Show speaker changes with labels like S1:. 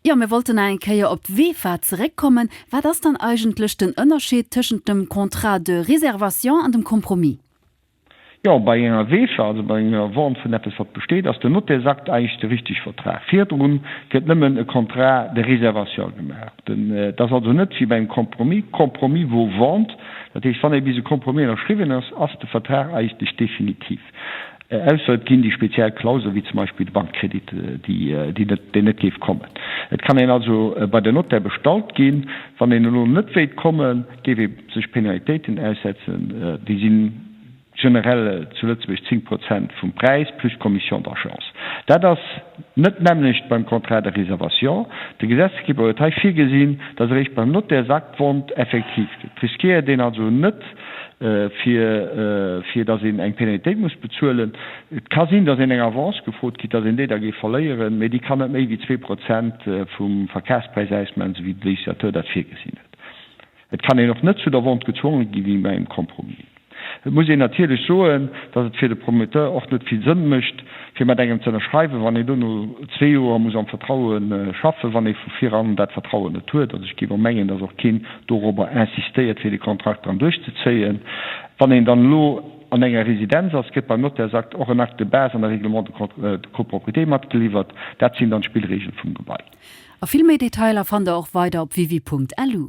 S1: Jo, mir wollten nach eng Kéier op d'VEFA zeréckkommen. Wat ass dann eigentlech den Ënnerscheed tëschent dem Contrat de réservation an dem Compromis? Jo,
S2: bei enger VEFA, also bei enger Vente vun eppes, wat besteet, ass den Notairsakt eigentlech de richteg Vertrag. Virdrun gëtt nëmmen e Contrat de réservation gemaach. Dat ass also net wéi bei engem Compromis. Compromis vaut vente. Dat heescht, wann ee bis e Compromis ënnerschriwwen ass, ass de Vertrag eigentlech definitiv. Ausser et ginn déi speziell Klausele wéi zum Beispill de Bankkredit, deen net géif kommen. Et kann een also bei den Notaire bestallt ginn. Wann een elo net wéilt kommen, géif ee sech Penalitéiten aussetzen. Déi si generell zu Lëtzebuerg 10 Prozent vum Präis plus Commission d'agence. Dat ass. Net d'nämmlecht beim Contrat de réservation. De Gesetzgeber huet hei virgesinn, datt eréischt beim Notärsakt d'Wont effektiv gëtt. Riskéiert een also net, fir datt een eng Penalitéit muss bezuelen. Et ka sinn, datt een eng Avance gefrot kritt, datt een déi da géif verléieren, mee déi kann net méi wéi zwee Prozent vum Verkafspräis ausmaachen, esou wéi de Législateur dat virgesinn huet. Et kann een och net zu der Vente gezwonge gi wéi bei engem Compromis. Et muss een natierlech soen, datt et fir de Promoteur och net vill Sënn mécht, fir mat engem ze ënnerschreiwen, wann een do no zwee Joer muss am Vertraue schaffen, wann ee vu viran dat Vertrauen net huet. Also ech géif och mengen, datt och keen dorobber insistéiert, fir de Kontrakt dran duerchzezéien, wann een dann elo an enger Residenz ass, kritt beim Notairsakt och en Acte de base an e Règlement de copropriété matgeliwwert. Dat sinn dann d'Spillreegele vum
S1: Gebai. A vill méi
S2: Detailer fannt der
S1: och weider op wiwi.lu.